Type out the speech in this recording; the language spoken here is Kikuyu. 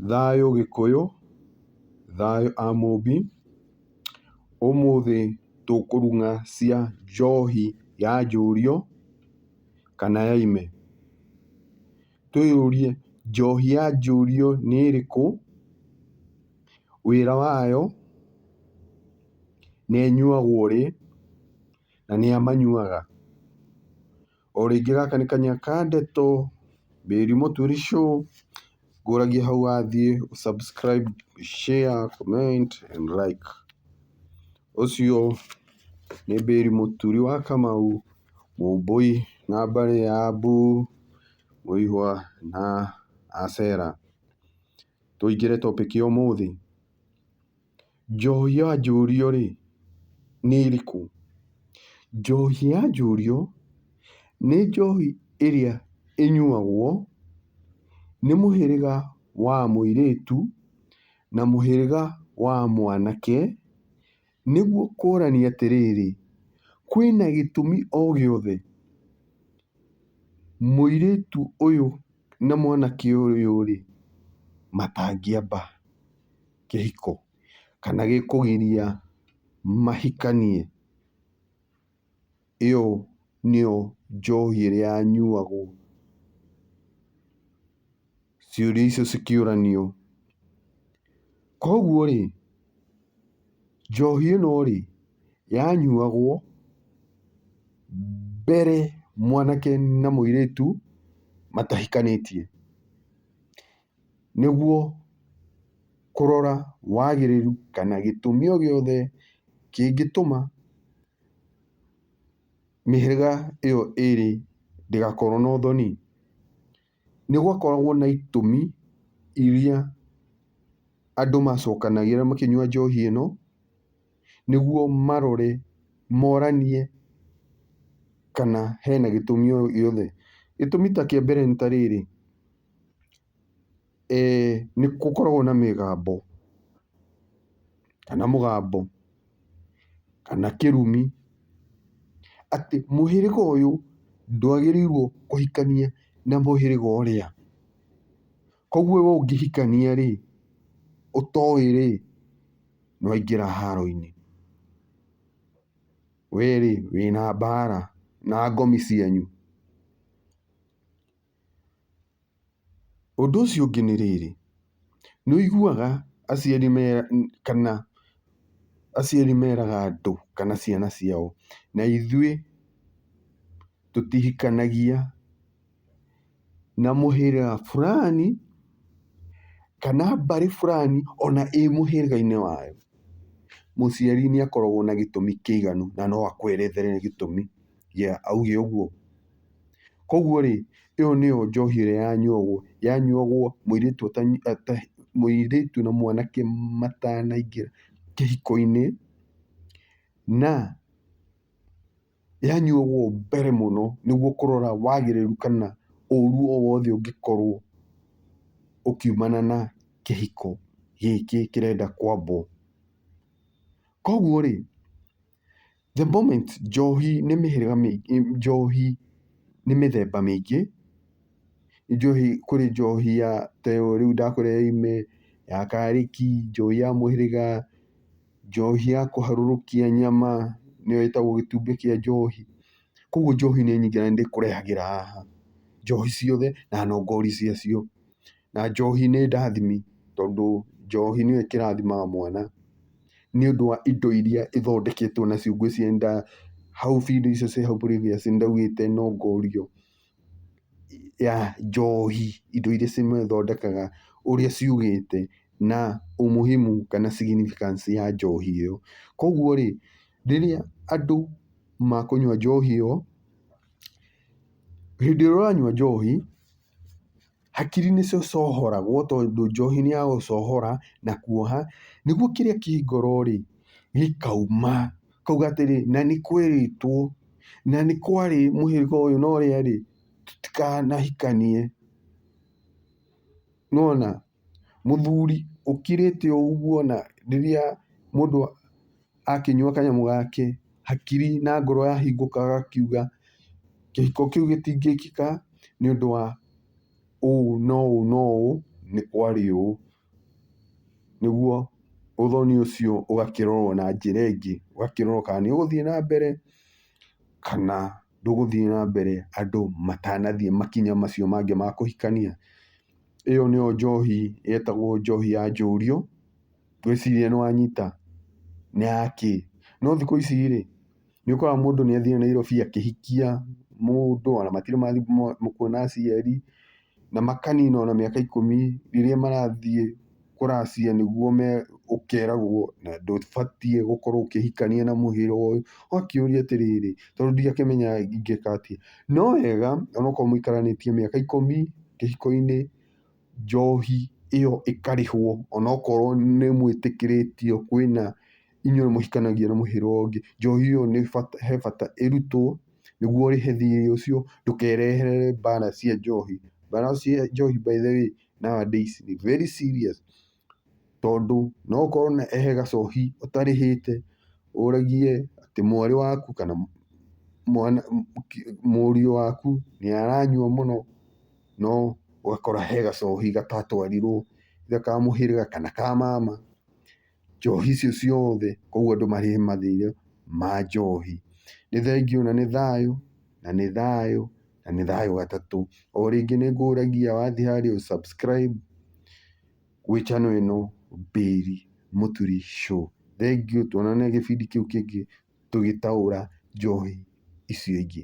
Thayũ Gĩkũyũ, Thayũ Amũmbi, Ũmũthĩ tũkũrung'a cia njohi ya njũriũ kana ya ime. Twĩyũrie njohi ya njũriũ nĩ ĩrĩkũ, wĩra wayo, na ĩnyuagwo rĩ, na nĩa manyuaga. O rĩngĩ gaka nĩ kanya ka ndeto, Mary Mũturi Show, ngũragia hau wathiĩ ũ subscribe, share, comment and like. Ũcio nĩ Mary Mũturi wa Kamau, Mũmbũi na mbarĩ ya Mbu, Mũihwa na Acera. Tũingĩre topic ya ũmũthĩ. Njohi ya njũriũ-rĩ, nĩ ĩrĩkũ? Njohi ya njũriũ nĩ njohi ĩrĩa ĩnyuagwo nĩ mũhĩrĩga wa mũirĩtu na mũhĩrĩga wa mwanake, nĩguo kuonania atĩrĩrĩ, kwĩna gĩtũmi o gĩothe mũirĩtu ũyũ na mwanake ũyũ-rĩ, matangĩamba. kĩhiko kana gĩkũgiria mahikanie, ĩyo nĩyo njohi ĩrĩa yanyuagwo. Ciũria icio cikĩũranio. Koguo rĩ, njohi ĩno rĩ, yanyuagwo mbere mwanake na mũirĩtu matahikanĩtie. nĩguo kũrora wagĩrĩru kana gĩtũmi o gĩothe kĩngĩtũma mĩhĩrĩga ĩyo ĩrĩ ndĩgakorwo na ũthoni. Nĩ gwakoragwo na itũmi iria andũ macokanagĩrĩra makĩnyua njohi ĩno, nĩguo marore moranie kana hena gĩtũmi o gĩothe. Gĩtũmi ta kĩa mbere nĩ ta rĩrĩ. Nĩ gũkoragwo na mĩgambo, kana mũgambo, kana kĩrumi, atĩ mũhĩrĩga ũyũ ndwagĩrĩirwo kũhikania na mũhĩrĩga ũrĩa. Koguo we ũngĩhikania rĩ, ũtoĩ rĩ, nĩ waingĩra haro-inĩ. We rĩ, wĩna mbara na ngomi cianyu. Ũndũ ũcio ũngĩ nĩ rĩrĩ, nĩ wĩiguaga aciari kana aciari meraga andũ kana ciana ciao, na ithuĩ tũtihikanagia na mũhĩrĩga burani kana mbarĩ burani ona ĩ mũhĩrĩga-inĩ wayo. Mũciari nĩ akoragwo na gĩtũmi kĩiganu na no akwerethere gĩtũmi Yeah, augire ũguo. Koguo rĩ, ĩyo nĩyo njohi ĩrĩa yanyuagwo, yanyuagwo mũirĩtu mũirĩtu na mwanake matanaingĩra kĩhiko-inĩ, na yanyuagwo mbere mũno nĩguo kũrora wagĩrĩru kana ũru o wothe ũngĩkorwo ũkiumana na kĩhiko gĩkĩ kĩrenda kwambwo. Koguo rĩ, The moment njohi nĩ mĩhĩrĩga mĩingĩ, njohi nĩ mĩthemba mĩingĩ, njohi kũrĩ njohi ya ta ĩyo rĩu ndakũrehe ime, ya karĩki, njohi ya mũhĩrĩga, njohi ya kũharũrũkia nyama nĩyo ĩtagwo gĩtumbĩ kĩa njohi. Koguo njohi nĩ nyingĩ na nĩ ndĩkũrehagĩra haha njohi ciothe na nongori cia cio. Na njohi nĩ ndathimi tondũ njohi nĩyo ĩkĩrathimaga mwana nĩ ũndũ wa indo iria ithondeketwo nacio ngwĩciria nĩ ta hau video icio ciĩ hau previous nĩ ndaugĩte no ngorio ya njohi indo iria cimĩthondekaga ũrĩa ciugĩte na ũmuhimu kana significance ya njohi ĩyo. Koguo rĩ rĩrĩa andũ makũnyua njohi ĩyo, hĩndĩ ĩrĩa ũranyua njohi Hakiri nĩ cũcũhoragwo tondũ njohi nĩ ya gũcũhora na kuoha, nĩguo kĩrĩa kĩ ngoro rĩ gĩkauma. Akauga atĩrĩ na nĩ kwĩrĩtwo na nĩ kwarĩ mũhĩrĩga ũyũ na ũrĩa rĩ tũtikanahikanie. Nĩ wona? Mũthuri ũkirĩte o ũguo na rĩrĩa mũndũ... akĩnyua kanyamũ gake, hakiri na ngoro yahingũka agakiuga, kĩhiko kĩu gĩtingĩkĩka nĩ ũndũ wa ũũ na ũũ na ũũ, nĩ kwarĩ ũũ. Nĩguo ũthoni ũcio ũgakĩrorwo na njĩra ĩngĩ, ũgakĩrorwo kana nĩ ũgũthiĩ na mbere kana ndũgũthiĩ na mbere andũ matanathiĩ makinya macio mangĩ ma kũhikania. Ĩyo nĩyo njohi yetagwo njohi ya njũriũ. Ngwĩciria nĩ wanyita. Nĩ ya kĩ? No thikũ ici rĩ, nĩ ũkoraga mũndũ nĩ athiĩ Nairobi akĩhikia mũndũ, ona matirĩ mathiĩ kuona aciari, na makanina ona mĩaka ikũmi rĩrĩa marathiĩ kũracia nĩguo me, ũkeragwo na ndũbatiĩ gũkorwo ũkĩhikania na mũhĩra ũyũ. Ũgakĩũria atĩrĩrĩ, tondũ ndingĩakĩmenya ingĩka atĩa. No wega onokorwo mũikaranĩtie mĩaka ikũmi kĩhiko-inĩ, njohi ĩyo ĩkarĩhwo onokorwo nĩ mwĩtĩkĩrĩtio kwĩna inyuĩ mũhikanagia na mũhĩrĩga ũyũ ũngĩ, njohi ĩyo nĩ bata he bata ĩrutwo nĩguo ũrĩhe thirĩ ũcio ndũkerehere mbara cia njohi. Mbara cia njohi by the way nowadays ni very serious tondũ no ũkorwo na he gacohi ũtarĩhĩte, ũrĩgie atĩ mwarĩ waku kana mũriũ waku nĩ aranyua mũno, no ũgakora he gacohi gatatwarirwo either ka mũhĩrĩga kana ka mama, njohi icio ciothe koguo andũ marĩhe mathirĩ ma njohi. Nĩ thengiũ na nĩ thayũ, na nĩ thayũ, na nĩ thayũ gatatũ. O rĩngĩ nĩ ngũragia wathiĩ harĩa ũ subscribe. gwĩ channel ĩno Bailey Mũturi Show. Thengiũ tuonane gĩbindi kĩu kĩngĩ tũgĩtaũra njohi icio ingĩ.